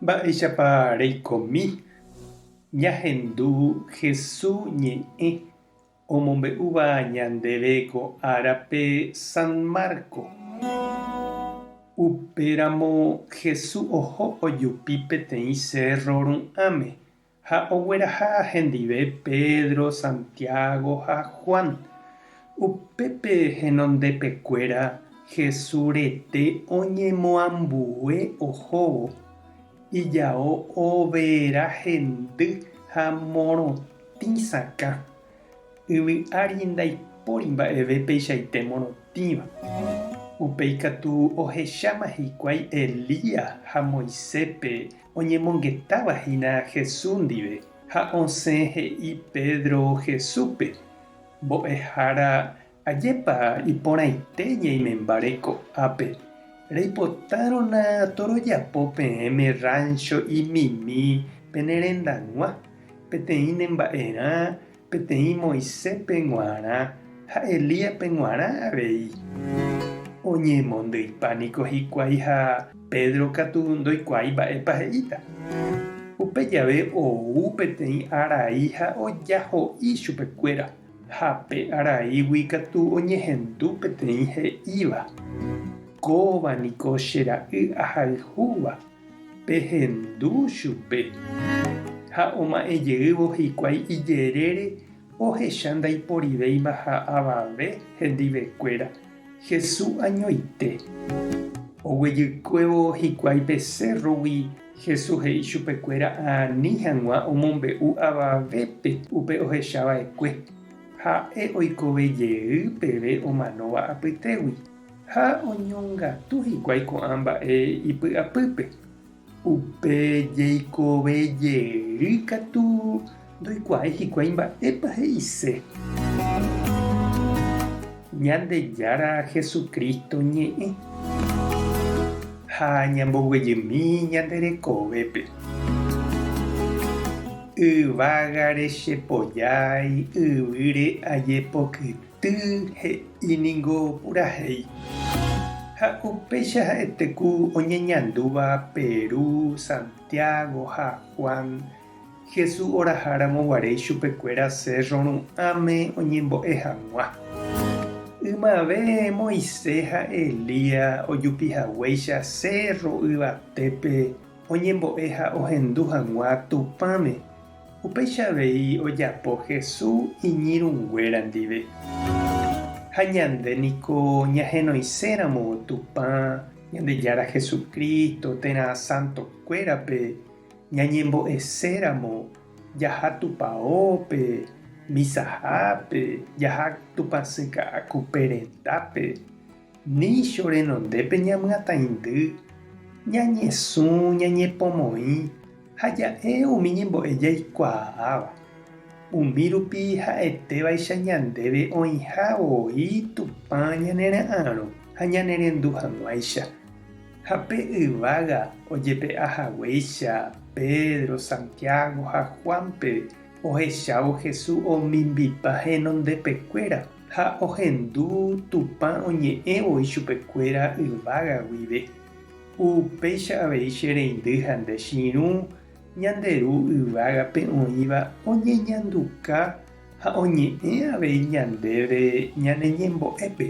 Mba'éichapa reikomi ñahendu Hesu ñe'ẽ omombe'úva ñandéve ko árape San Marco? Upéramo Hesu oho ojupi peteĩ sérro ru'ãme Ha ogueraha hendive Pedro, Santiago ha Juan. Upépe henondepekuéra Hesu rete oñemoambue ohóvo, ijao overa hendy ha morotĩ sakã. Yvy ári ndaipóri mba'eve peichaite morotĩva. Upéi katu ohecháma hikuái Elías ha Moiséspe oñemongetáva hína Jesús ndive, ha osẽ he'i Pedro Jesúspe, Mbo'ehára Ajépa iporãite ñaimembare ko'ápe. Reipotárõna torojapo peẽme ráncho imimi pene rendag̃ua, peteĩ nemba'erã, peteĩ Moisépe g̃uarã ha Elíape g̃uarã avei. Oñemondýipa niko hikuái ha Pedro katu ndoikuaái mba'épa he'íta. Upe jave ou peteĩ arai ha ojaho'i chupekuéra. Ha pe araígui katu oñehendu peteĩ he'íva, Kóva niko che ra'y ahayhúva, pehendu chupe. Ha oma'ẽ jeývo hikuái ijerére ohecha ndaiporivéima ha avave hendivekuéra Hesu añoite. Oguejykuévo hikuái pe cérrogui. Jesús he'i chupekuéra ani hag̃ua omombe'u avavépe upe ohecha va'ekue, Ha'e oikove jey peve omanóva apytégui, ha oñongatu hikuái ko'ã mba'e ipy'apýpe. Upe jeikove jey katu Ndoikuaái hikuái mba'épa he'ise. Ñandejára Jesucristo ñe'ẽ. Ha ñamboguejymi ñande rekovépe. Yvágare chepojái, yvýre ajepokyty he'i ningo purahéi. Ha upéicha ha'ete ku oñeñandúva Peru, Santiago ha Juan. Jesús oraha ramo guare ichupekuéra cérro ru'ãme oñembo'e hag̃ua. Ymave Moisés ha Elías ojupi haguéicha cérro yvatépe oñembo'e ha ohendu hag̃ua Tupãme, upéicha avei ojapo Jesús iñirũnguéra ndive. Ha ñande niko ñahenoisẽ ramo Tupã, Ñandejára Jesucristo, térã santokuérape, Ñañembo'eséramo jaha tupaópe, misahápe, jaha tupãsy ka'aku pe rendápe, nícho renondépe ñamyatãindy, ñañesũ, ñañepomoĩ ha ja'e umi ñembo'e jaikuaáva. Umi rupi ha'etévaicha ñandéve oĩha voi Tupã ñanera'arõ ha ñanerendu hag̃uáicha. Ha pe yvága ojepe'a haguéicha Pedro, Santiago ha Juánpe, ohechávo Jesús omimbipa henondepekuéra, ha ohendu Tupã oñe'ẽvo ichupekuéra yvága guive. Upéicha avei che reindy ha nde chirũ ñande Ru yvágape oĩva oñeñanduka ha oñe'ẽ avei ñandéve ñane ñembo'épe.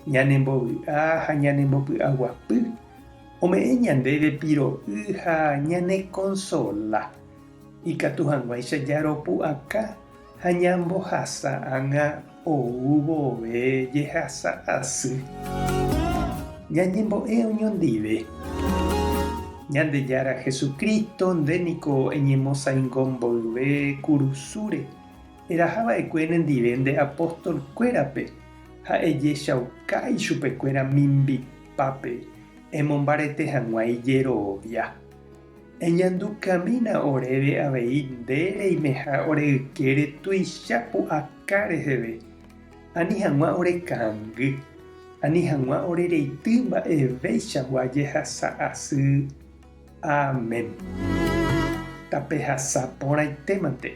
Ñanembovy'a ha ñanembopy'aguapy ome'ẽ ñandéve piro'y ha ñanekonsola. Ikatu hag̃uáicha jaropu'aka ha ñambohasa ág̃a ou vove jehasa asy. Ñañembo'e oñondive. Ñandejára Jesucristo nde niko eñemosaingo mboyve kurusúre. Eraha va'ekue nendive nde apóstol kuérape ha ejechauka ichupekuéra mimbipápe emombarete hag̃ua ijerovia. Eñandukamína oréve avei nde reimeha ore ykére tuicha pu'aka reheve, ani hag̃ua ore kangy, ani hag̃ua ore reity mba'eveichagua jehasa asy. Amén. Tapehasa porãitémante.